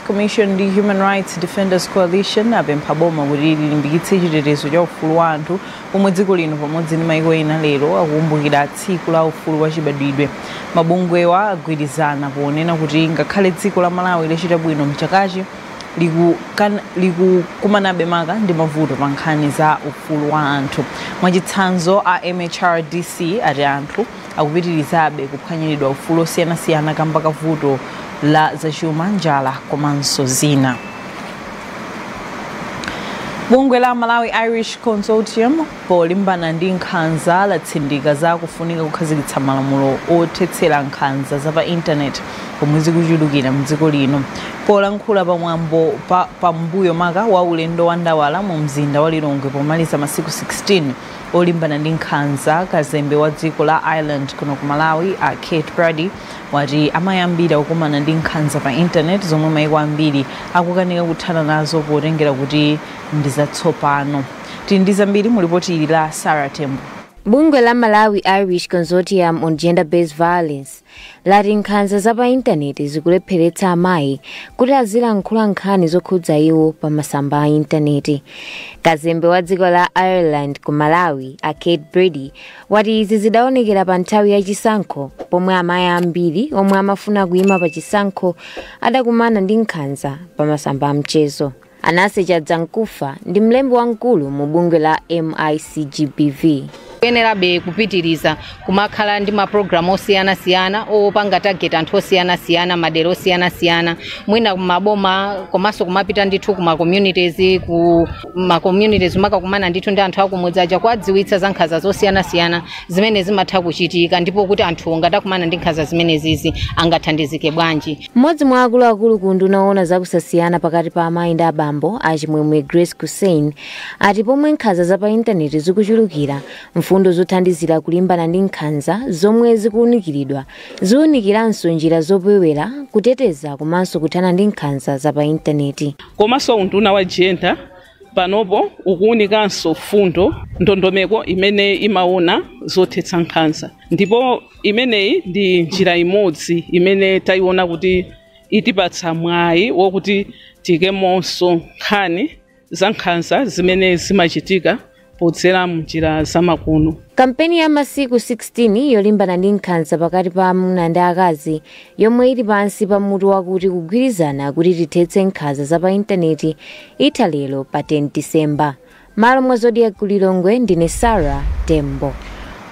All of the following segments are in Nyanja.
Commission ndi Human Rights Defenders Coalition apempha boma kuti lilimbikitse chitetezo cha ufulu wa anthu pomwe dziko lino pamodzi ndi maiko ena lero akukumbukira tsiku la ufulu wa chibadwidwe. Mabungwewa agwirizana ponena kuti ngakhale dziko la Malawi lachita bwino mchakachi likukumanabe maka ndi mavuto pa nkhani za ufulu wa anthu. Mwachitsanzo a MHRDC ati anthu akupitirizabe kuphwanyiridwa ufulu osiyanasiyana kamba ka vuto la zachuma, njala komanso zina. Bungwe la Malawi Irish Consortium polimbana ndi nkhanza latsindika za kufunika kukhazikitsa malamulo othetsera nkhanza za pa intaneti pomwe zikuchulukira mdziko lino. Polankhula pa mwambo pambuyo maka wa ulendo wa ndawala mu mzinda wa Lilongwe pomaliza masiku 16 olimbana ndi nkhanza kazembe wa dziko la ireland kuno ku malawi a kate brady wati amayi ambiri akukumana ndi nkhanza pa intaneti zomwe maiko ambiri akukanika kuthana nazo potengera kuti ndi zatsopano tili ndi zambiri mu lipoti ili la sarah tembo Bungwe la Malawi Irish Consortium on Gender-Based Violence lati nkhanza za pa intaneti zikulepheretsa amayi kuti azilankhula nkhani zokhudza iwo pa masamba a intaneti kazembe wa dziko la ireland ku malawi a kate brady wati izi zidaonekera pa nthawi ya chisankho pomwe amayi ambiri omwe amafuna kuyima pa chisankho adakumana ndi nkhanza pa masamba a mchezo Anase Chadzamkufa ndi mlembi wamkulu mu bungwe la MICGBV. Kuyenerabe kupitiriza kumakhala ndi mapulogalamu osiyanasiyana opanga target anthu osiyanasiyana madera osiyanasiyana mwina kumaboma komanso kumapita ndithu kuma communities ku ma communities kumakakumana ndithu ndi anthu akumudzi aja kuwadziwitsa za nkhanza zosiyanasiyana zimene zimatha kuchitika ndipo kuti anthu ngati akumana ndi nkhanza zimenezizi angathandizike bwanji. Mmodzi mwa akuluakulu ku unduna woona za kusasiyana pakati pa amayi ndi abambo, a Chimwemwe Grace Kussein, ati pomwe nkhanza za pa intaneti zikuchulukira, mfundo zothandizira kulimbana ndi nkhanza zomwe zikuunikiridwa ziunikiranso njira zopewera, kuteteza komanso kuthana ndi nkhanza za pa intaneti. Komanso unduna wa Gender panopo ukuunikanso mfundo, ndondomeko imene imaona zothetsa nkhanza ndipo. imeneyi ndi njira imodzi imene tayiona kuti itipatsa mwayi wokuti tiikemonso nkhani za nkhanza zimene zimachitika podzera mnjira zamakono kampeni ya masiku 16 yolimbana ndi nkhanza pakati pa amuna ndi akazi yomwe ili pansi pa mutu wakuti kugwirizana kuti tithetse nkhanza za pa intaneti itha lero pa 10 disemba M'malo mwa Zodiak ku Lilongwe ndine Sarah Tembo.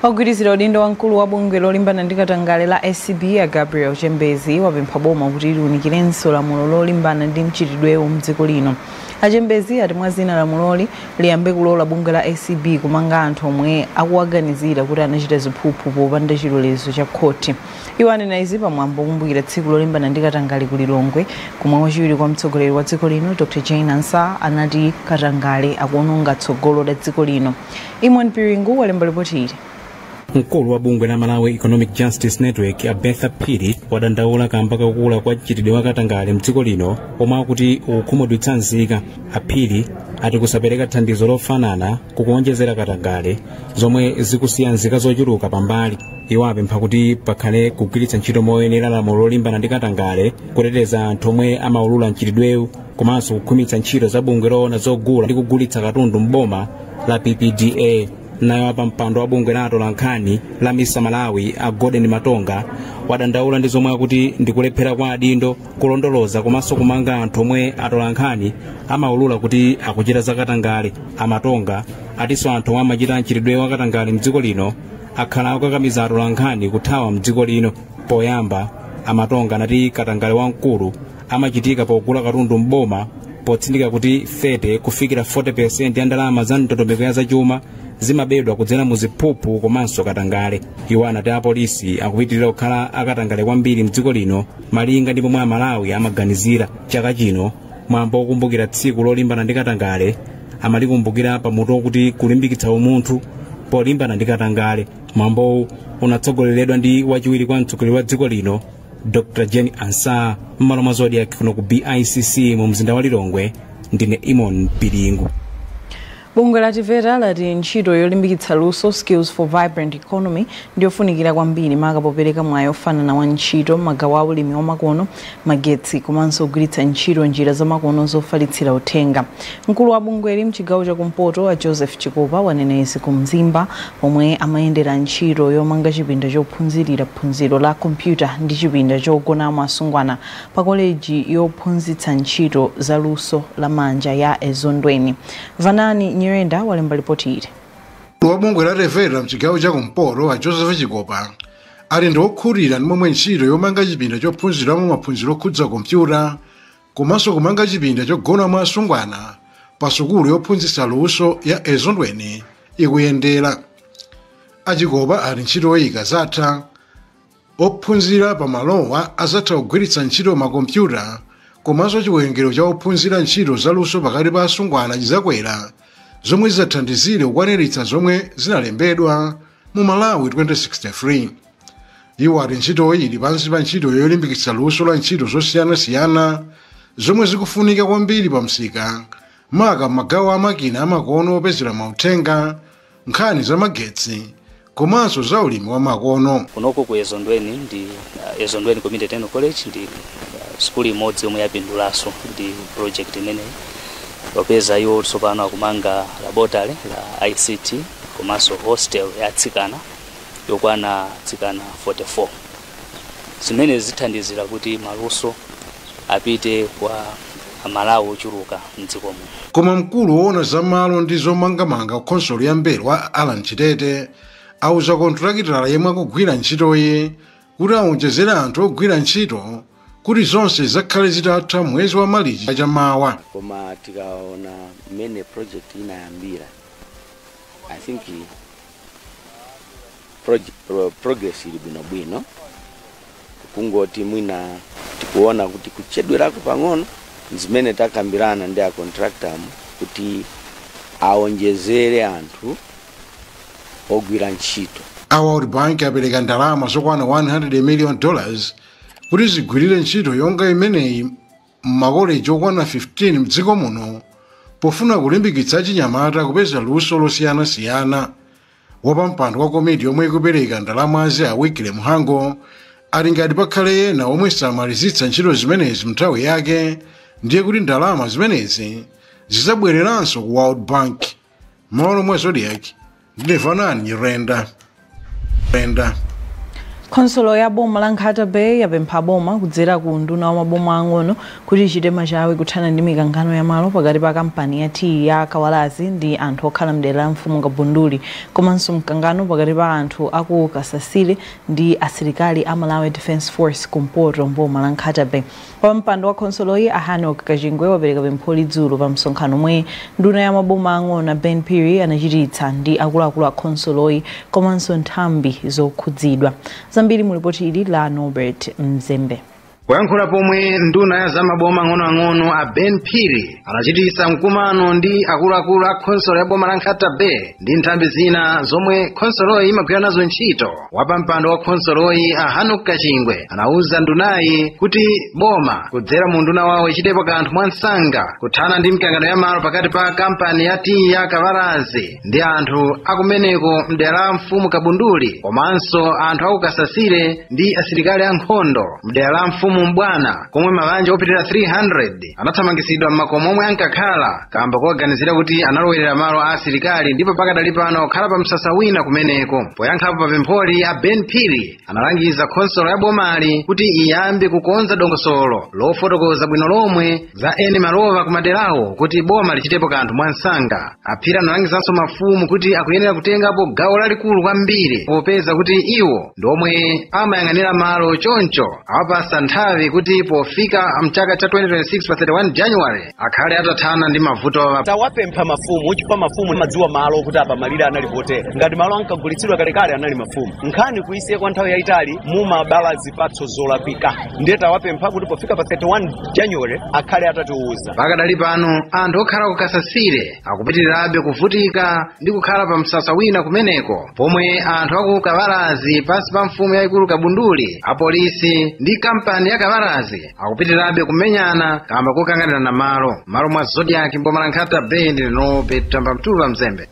Ogwirizira udindo wa mkulu wa bungwe lolimbana ndi katangale la acb a Gabriel Chembezi wapempha boma kuti liunikirenso lamulo lolimbana ndi mchitidwewu mdziko lino. A Chembezi ati mwa zina lamuloli liyambe kulola bungwe la acb kumanga anthu omwe akuwaganizira kuti anachita ziphuphu popanda chilolezo cha khoti. Iwo anena izi pa mwambo wokumbukira tsiku lolimbana ndi katangale ku Lilongwe komwe wachiwiri kwa mtsogoleri wa dziko lino Dr Jane Ansah anati katangale akuononga tsogolo la dziko lino. Eamon Piringu walemba lipoti ili. mkulu wa bungwe la malawi economic justice network a bertha phiri wadandaula kamba kakula kwa mchitidwe wa katangale mdziko lino omwe akuti ukhumudwitsa nzika a phiri ati kusapereka thandizo lofanana kukuonjezera katangale zomwe zikusiya nzika zochuluka pambali iwo apempha kuti pakhale kugwiritsa ntchito moyenera lamulo lolimbana ndi katangale kuteteza anthu omwe amaulula mchitidwewu komanso kukhwimitsa ntchito za bungwe loona zogula ndi kugulitsa katundu m'boma la ppda nayo wapampando wa bungwe la atolankhani la misa malawi a golden matonga wadandaula ndi zomwe akuti ndikulephera kwa adindo kulondoloza komanso kumanga anthu omwe atolankhani amaulula kuti akuchita zakatangale a matonga atinso anthu omwe amachita mchitidwe wakatangale mdziko lino akhala akukakamiza atolankhani kuthawa mdziko lino poyamba a matonga anati katangale wamkulu amachitika pogula katundu mboma potsindika kuti 30 kufikira 40% ya ndalama za ndondomeko ya zachuma zimabedwa kudzera mu ziphuphu komanso katangale iwo anati apolisi akupitirira kukhala akatangale kwambiri mdziko lino malinga ndi pomwe amalawi amaganizira chaka chino mwambo wokumbukira tsiku lolimbana ndi katangale amalikumbukira pa mutu wakuti kulimbikitsa umunthu polimbana ndi katangale mwambowu unatsogoleredwa ndi wachiwiri kwa mtsogoleri wa dziko lino dr jane ansah m'malo mwa zodiak kuno ku bicc mu mzinda wa lilongwe ndine eamon piringu Bungwe la TVETA lati ntchito yolimbikitsa luso, Skills for Vibrant Economy, ndiyofunikira kwambiri maka popereka mwayi ofanana wa ntchito m'magawo a ulimi wamakono, magetsi komanso kugwiritsa ntchito njira zamakono zofalitsira uthenga. Mkulu wa bungweli mchigawo cha kumpoto a Joseph Chikopa wanena izi ku Mzimba pomwe amayendera ntchito yomanga chipinda chophunzirira phunziro la kompyuta ndi chipinda chogonamo asungwana pa koleji yophunzitsa ntchito za luso la manja ya Ezondweni. Vanani Nyirenda walemba lipoti ili. Mkulu wa bungwe la TVETA mchigawo cha kumpoto a Joseph Chikopa ati ndi okhutira ndi momwe ntchito yomanga chipinda chophunziramo maphunziro okhudza kompyuta komanso kumanga chipinda chogonamo asungwana pa sukulu yophunzitsa luso ya Ezondweni ikuyendera. A Chikopa ati ntchito yoyika zatha Ophunzira pa malowa azatha kugwiritsa ntchito ma kompyuta komanso chiwerengero cha ophunzira ntchito za luso pakati pa asungwana chizakwera zomwe zizathandizire kukwaniritsa zomwe zinalembedwa mu Malawi 2063. Iwo ati ntchitoyi ili pansi pa ntchito yolimbikitsa luso la ntchito zosiyanasiyana zomwe zikufunika kwambiri pa msika maka m'magawo a makina amakono opezera mauthenga, nkhani za magetsi komanso za ulimi wa makono. kunoko ku ezondweni ndi uh, ezondweni community technical college ndi uh, sukulu imodzi yomwe yapindulanso ndi project imeneyi popeza iwo tsopano akumanga laboratory la ict komanso hostel ya atsikana yokwana atsikana 44 Zimene zithandizira kuti maluso apite kwa Amalawi ochuluka m'dziko muno. Koma mkulu woona za malo ndi zomangamanga kukhonsolo ya Mbelwa, a Allan Chitete, auza kontilakitala yemwe akugwira ntchitoyi kuti awonjezere anthu ogwira ntchito kuti zonse zakhale zitatha mwezi wa malichi chaka cha mawa koma tikaona mmene project inayambira i think progress ili bwinobwino kungoti mwina tikuona kuti kuchedwerako pang'ono zimene takambirana ndi a contractor mu kuti aonjezere anthu ogwira ntchito a world bank apereka ndalama zokwana 100 million dollars Kuti zigwirire ntchito yonga imeneyi m'makoleji okwana 15 m'dziko muno pofuna kulimbikitsa achinyamata kupeza luso losiyanasiyana, wapampando wa komiti yomwe ikupereka ndalamazi a Wycliffe Mhango ati ngati pakhale ena omwe samalizitsa ntchito zimenezi m'nthawi yake ndiye kuti ndalama zimenezi zizabwereranso ku World Bank. M'malo mwa Zodiak ndine Vanani Nyirenda. Renda. khonsolo ya boma la nkhata bay yapempha boma kudzera ku unduna wa maboma ang'ono kuti ichite machawi kuthana ndi mikangano ya malo pakati pa kampani ya tiyi ya kawalazi ndi anthu okhala mdera la mfumu kabunduli komanso mkangano pakati pa anthu aku kasasile ndi asilikali a malawi defence force kumpoto mboma la nkhata bay Wapampando wa khonsoloyi a Hannock Kachingwe wapereka pempholi dzulo pa msonkhano omwe nduna ya maboma ang'ono a Ben Phiri anachititsa ndi akuluakulu a khonsoloyi komanso nthambi zokhudzidwa. Zambiri mu lipoti ili la Norbert Mzembe. Poyankhula pomwe nduna ya za maboma ang'onoang'ono a Ben Phiri anachititsa mkumano ndi akuluakulu a khonsolo ya boma la nkhata bay ndi nthambi zina zomwe khonsoloyi imagwira nazo ntchito wapampando wa khonsoloyi a hanock kachingwe anauza ndunayi kuti boma kudzera mu nduna wawo ichitepo kanthu mwansanga kuthana ndi mikangano ya malo pakati pa kampani ya tiyi ya kawalazi ndi anthu akumeneko mdera la mfumu kabunduli komanso anthu akukasasile ndi asilikali ankhondo mdera la mfumu mbwana komwe mabanja opitirira 300 anathamangitsidwa m'makomo omwe ankakhala kamba kowaganizira kuti analowerera malo a asilikali ndipo pakadali pano akukhala pa msasa wina kumeneko poyankhapo pa pempholi a ben phiri analangiza khonsolo ya bomali kuti iyambe kukonza dongosolo lofotokoza bwino lomwe za eni malo wa kumaderawo kuti boma lichitepo kanthu mwansanga aphiri analangizanso mafumu kuti akuyenera kutengapo gawo lalikulu kwambiri popeza kuti iwo ndi omwe amayang'anira malo choncho awapatsa nthawi kuti pofika mchaka cha 2026 pa 31 january akhale atathana ndi mavutowa tawapempha mafumu chifukwa mafumu amadziwa malo kuti apa malire anali potera ngati malo ankagulitsidwa kalekale anali mafumu nkhani kuisiya kwa nthawi yayitali imabala zipatso zolakwika ndiye tawapempha kuti pofika pa 31 january akhale atatiuza pakadali pano anthu okhala ku kasasile akupitirirabe kuvutika ndi kukhala pa msasa wina kumeneko pomwe anthu aku kawalazi pansi pa mfumu yayikulu kabunduli apolisi ndi kampani ya kawalazi akupitirirabe kumenyana kamba kokanganirana malo mmalo mwa zodiak mboma la nkhata bay ndine tamba mtula mzembe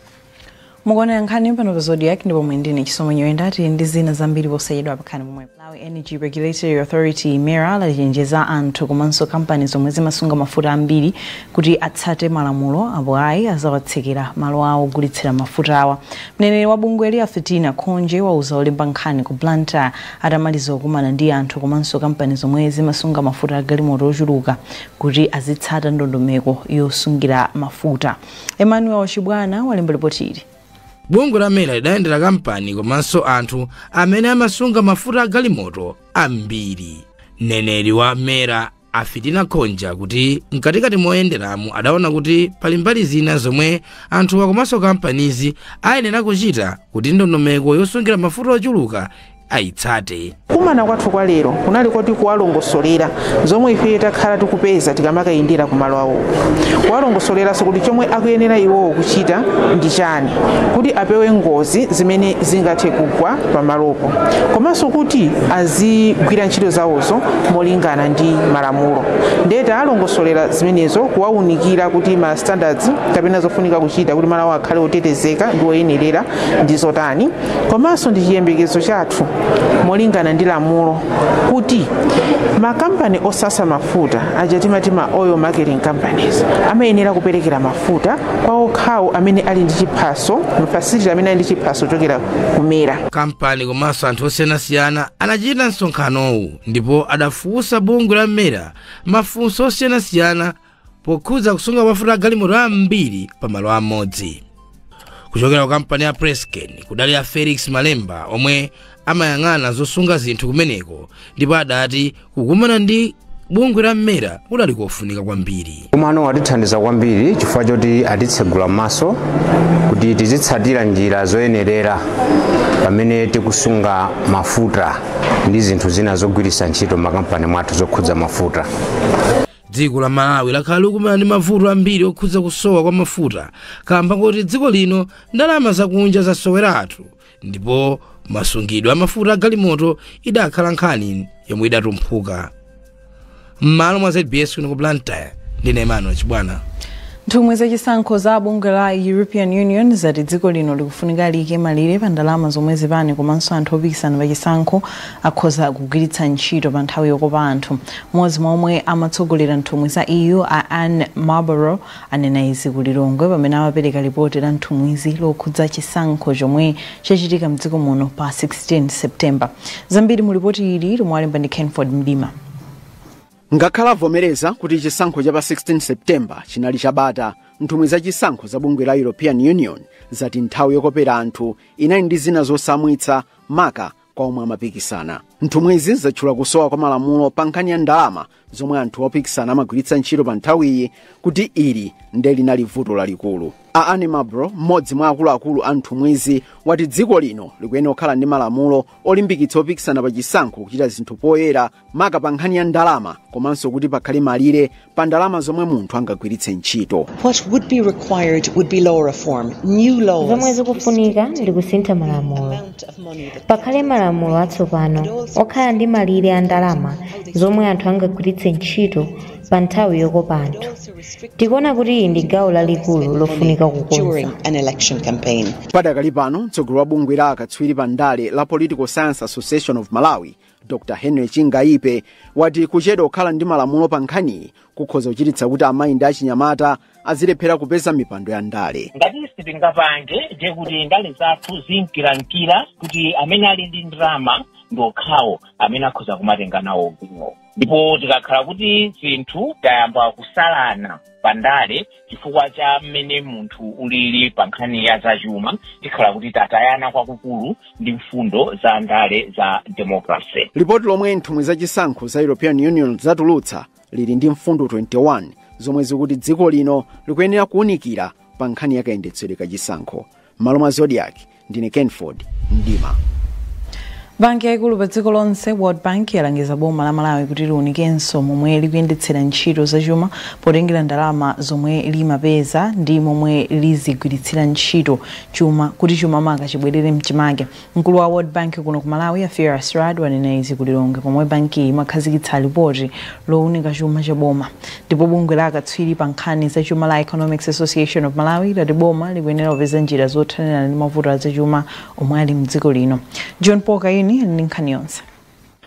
mukuonera nkhani pano pa zodiak ndipo muli ndi ine chisomo nyirenda tili ndi zina zambiri posachedwa khalani pomwepo malawi energy regulatory authority mera lachenjeza anthu komanso kampani zomwe zimasunga mafuta ambiri kuti atsate malamulo apo ayi azawatsekera malo awo ogulitsira mafutawa mneneri wa bungweli a fitina khonje wauza olemba nkhani ku blantyre atamaliza kukumana ndi anthu komanso kampani zomwe zimasunga mafuta agalimoto ochuluka kuti azitsata ndondomeko yosungira mafuta Emmanuel Chibwana walemba lipoti ili. Bungwe la MERA lidayendera kampani komanso anthu amene amasunga mafuta a galimoto ambiri. Mneneri wa MERA a fitina khonje akuti mkatikati moyenderamu adaona kuti pali mbali zina zomwe anthuwa komanso kampanizi ayenera kuchita kuti ndondomeko yosungira mafuta ochuluka ayitsate kumana kwathu kwa lero kunali kuti kuwalongosolera zomwe ife takhala tikupeza tikamakayendera ku malo awo kuwalongosoleranso kuti chomwe akuyenera iwowo kuchita ndi chani kuti apewe ngozi zimene zingathe kugwa pamalopo komanso kuti azigwira ntchito zawozo molingana ndi malamulo ndiye tawalongosolera zimenezo kuwaunikira kuti ma standards kapena zofunika kuchita kuti malo awo akhale otetezeka ndi oyenerera ndi zotani komanso ndi chiyembekezo chathu molingana ndi lamulo kuti makampani osasa mafuta aja timati ma oil marketing companies amayenera kuperekera mafuta kwa okhawo amene ali ndi chiphaso mafacility amene ali ndi chiphaso chochokera ku mera makampani komanso anthu osiyanasiyana anachita msonkhanowu ndipo adafunsa bungwe la mera mafunso osiyanasiyana pokhudza kusunga mafuta a galimoto ambiri pa malo amodzi kuchokera ku kampani ya presscane kudali a felix malemba omwe amayang'ana zosunga zinthu kumeneko ndipo adati kukumana ndi bungwe la mera kudali kofunika kwambiri kukumanaku atithandiza kwambiri chifukwa choti atitsegula maso kuti tizitsatira njira zoyenerera pamene tikusunga mafuta ndi zinthu zina zogwiritsa ntchito makampani mwathu zokhudza mafuta dziko la malawi lakhala likukumana ndi mavuto ambiri okhudza kusowa kwa mafuta kamba koti dziko lino ndalama zakunja zasoweratu ndipo masungidwe amafuta agalimoto idakhala nkhani yomwe idatumphuka m'malo mwa zbs kuno ku blantyre ndine emmanuel chibwana nthumwi zachisankho za bungwe la european union zati dziko lino likufunika liyike malire pa ndalama zomwe zipani komanso anthu opikisana pa chisankho akhoza kugwiritsa ntchito pa nthawi yokopa anthu Mmodzi mwa omwe amatsogolera nthumwi za EU a Anne Marlborough anena izi ku Lilongwe pamene amapereka lipoti la nthumwizi lokhudza chisankho chomwe chachitika mdziko muno pa 16 September. Zambiri mu lipoti ili lomwe walemba ndi Kenford Mdima. Ngakhale avomereza kuti chisankho cha pa 16 September chinali chabata, nthumwi za chisankho za bungwe la European Union zati nthawi yokopera anthu inali ndi zina zotsamwitsa maka kwa omwe amapikisana nthumwizi zatchula kusowa kwa malamulo pa nkhani ya ndalama zomwe anthu opikisana amagwiritsa ntchito pa nthawiyi kuti ili nde linali vuto lalikulu a anne marlborough mmodzi mwa akuluakulu a nthumwizi wati dziko lino likuyenera kukhala ndi malamulo olimbikitsa opikisana pa chisankho kuchita zinthu poyera maka pa nkhani ya ndalama komanso kuti pakhale malire pa ndalama zomwe munthu angagwiritse ntchito What would be required would be law reform, new laws. zomwe zikufunika ndi kusintha malamulo pakhale malamulo atsopano okhala ndi malire a ndalama zomwe anthu angagwiritse ntchito pa nthawi yokopa anthu tikuona kuti ili ndi gawo lalikulu lofunika kukonza during an election campaign. padakali pano mtsogoleri wa bungwe la akatswiri pa ndale la political science association of malawi dr henry chingaipe wati kuchedwa kukhala ndi malamulo pa nkhaniyi kukhoza kuchititsa kuti amayi ndi achinyamata azilephera kupeza mipando ya ndale ngati sitingapange ndiye kuti ndale zathu zimkiramkira kuti amene ali ndi ndalama ndi okhawo amene akhoza kumatenga nawo gawo ndipo tikakhala kuti zinthu tayamba kusalana pa ndale chifukwa cha mmene munthu ulili pa nkhani ya zachuma tikhala kuti tatayana kwakukulu ndi mfundo za ndale za democracy lipoti lomwe nthumwi za chisankho za european union zatulutsa lili ndi mfundo 21 zomwe zikuti dziko lino likuyenera kuwunikira pa nkhani ya kayendetsedwe ka chisankho m'malo mwa zodiaki ndine kenford mdima banki yaikulu pa dziko lonse world bank yalangiza boma la malawi kuti liunikenso momwe likuyendetsera ntchito zachuma potengera ndalama zomwe limapeza ndi momwe lizigwiritsira ntchito chuma kuti chuma maka chibwerere mchimake mkulu wa world bank kuno ku malawi a firas raad wanena izi ku lilongwe pomwe bankiyi imakhazikitsa lipoti lounika chuma cha boma Ndipo bungwe la akatswiri pa nkhani za chuma la Economics Association of Malawi lati boma likuyenera kupeza njira zothanirana ndi mavuto a zachuma omwe ali mdziko lino. John Paul Kayuni ali ndi nkhani yonse.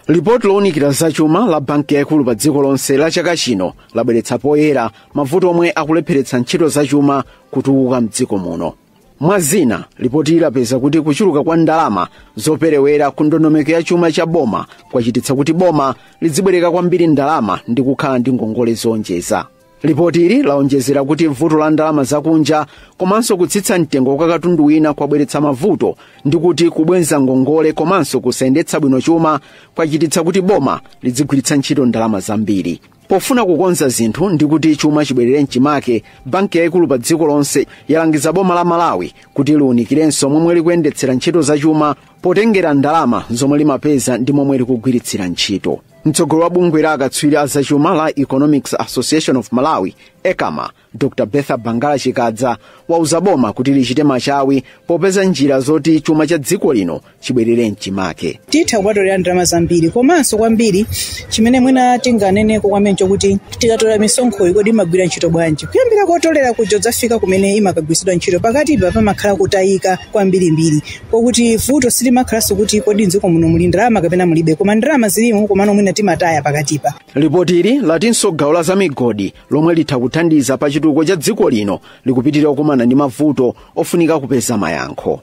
lipoti lowunikira zachuma la banki yaikulu pa dziko lonse la chaka chino labweretsa poyera mavuto omwe akulepheretsa ntchito zachuma kutukuka mdziko muno mwa zina lipotili lapeza kuti kuchuluka kwa ndalama zoperewera ku ndondomeko ya chuma cha boma kwachititsa kuti boma lidzibwereka kwambiri ndalama ndi kukhala ndi ngongole zoonjeza lipotili laonjezera kuti vuto la ndalama zakunja komanso kutsitsa mtengo kwa katundu wina kwabweretsa mavuto ndi kuti kubwenza ngongole komanso kusayendetsa bwino chuma kwachititsa kuti boma lidzigwiritsa ntchito ndalama zambiri Pofuna kukonza zinthu ndi kuti chuma chibwerere mchimake, banki yaikulu pa dziko lonse yalangiza boma la Malawi kuti liunikirenso momwe likuyendetsera ntchito za chuma potengera ndalama zomwe limapeza ndi momwe likugwiritsira ntchito. Mtsogoleri wa bungwe la akatswiri a zachuma la Economics Association of Malawi, ECAMA, dr bertha bangala chikadza wauza boma kuti lichite machawi popeza njira zoti chuma cha dziko lino chibwerere mchimake titha kumatolera ndalama zambiri komanso kwambiri chimene mwina tinganeneko kwambiri nchokuti tikatolera misonkhoyi kodi imagwira ntchito bwanji kuyambira kotolera kuja kudzafika kumene imakagwiritsidwa ntchito pakatipa pamakhala kutayika kwambirimbiri kokuti vuto silimakhalanso kuti kodi mdziko muno muli ndalama kapena mulibe koma ndalama zilimo komano mwina timataya pakatipa lipotili latinso gawo la zamigodi lomwe litha kuthandiza pa chitukuko cha dziko lino likupitirira kukumana ndi mavuto ofunika kupeza mayankho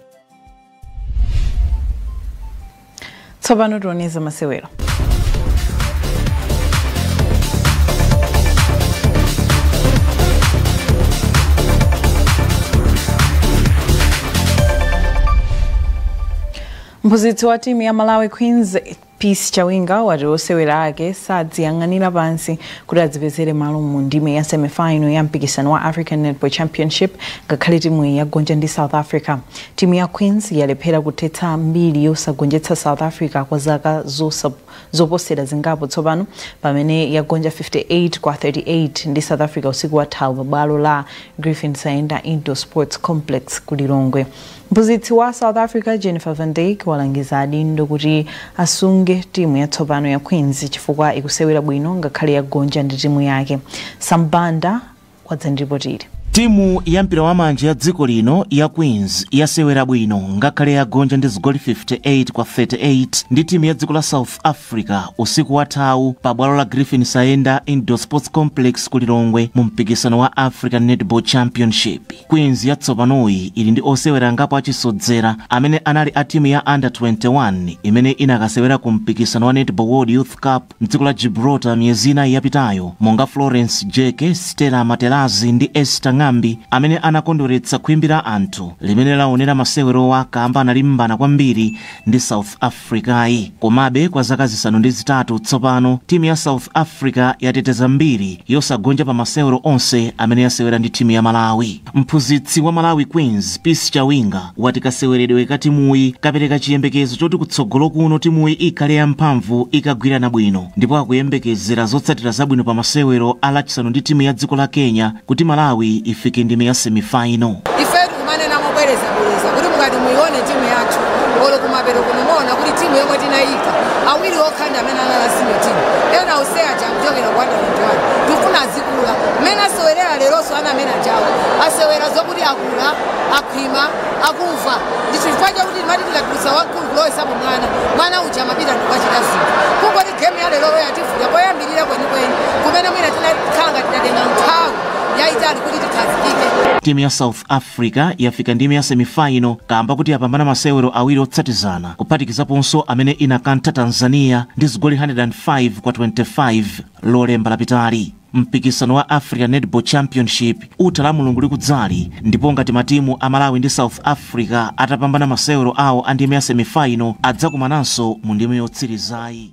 tsopano tione za masewero mphunzitsi wa timu ya malawi queens Peace Chawinga wati osewera ake sadziyang'anira pansi kuti adzipezere malo mu ndime ya semifinal ya mpikisano wa African Netball Championship ngakhale timu yagonja ndi South Africa. Timu ya Queens yalephera kuthetsa mbiri yosagonjetsa South Africa kwa zaka zoposera zingapo tsopano pamene yagonja 58 kwa 38 ndi South Africa usiku wathawu pa bwalo la Griffin Saenda Indoor Sports Complex ku Lilongwe. Mphunzitsi wa South Africa, Jennifer van Dyk, walangiza adindo kuti asunge timu yatsopano ya Queens chifukwa ikusewera bwino ngakhale yagonja ndi timu yake. Sam Banda wadza ndi ripoti ili. Timu ya mpira wa manja ya dziko lino ya Queens yasewera bwino ngakhale yagonja ndi zigoli 58 kwa 38 ndi timu ya dziko la South Africa usiku wathawu pa bwalo la Griffin Saenda Indoor Sports Complex ku Lilongwe mu mpikisano wa African Netball Championship. Queens yatsopanoyi ili ndi osewera angapo achisodzera amene anali a timu ya Under 21 imene inakasewera ku mpikisano wa Netball World Youth Cup mdziko la Gibraltar miyezi inayi yapitayo monga Florence Jeke, Stella Matelazi ndi Esther Ng'ambi amene anakondweretsa khwimbi la anthu limene laonera masewerowa kamba analimbana kwambiri ndi South Africa. Afrikayi. Komabe, kwa zaka zisanu ndi zitatu tsopano, timu ya South Africa yateteza mbiri yosagonja pa masewero onse amene yasewera ndi timu ya Malawi. Mphunzitsi wa Malawi Queens, Peace Chawinga, wati kaseweredwe ka timuyi kapereka chiyembekezo choti kutsogolo kuno timuyi ikhale ya mphamvu ikagwirana bwino ndipo akuyembekezera zotsatira zabwino pa masewero a Lachisanu ndi timu ya dziko la Kenya kuti Malawi ifike ndime ya semifaino. Ifetu tikumanena mobwerezabwereza kuti mukati muyione timu yathu olo kumapero kuno muona kuti timu yomwe tinayika awiri okha ndi amene anali a senior team ena onse aja akuchokera ku under 21 tikufuna azikula mmene asewerera leronso ana amene ajawo asewera zokuti akula akhwima akuva ndi chifukwa chakuti timati tikatulutsa wamkulu kulowesapo mwana mwana uja amapita ndikukachita zinthu kungoti game ya leroyo yativuta poyambira rira kwenikweni kumene mwina tinakhala ngati tatenga nthawi yayitali kuti tikhazikike timu ya south africa yafika ndime ya semifaino kamba kuti yapambana masewero awiri otsatizana kuphatikizaponso amene inakantha tanzania ndi zigoli 105 kwa 25 lolemba lapitali mpikisano wa african netball championship utha Lamulungu likudzali ndipo ngati matimu a Malawi ndi South Africa atapambana masewero awo a ndime ya semifaino adzakumananso mu ndime yotsirizayi.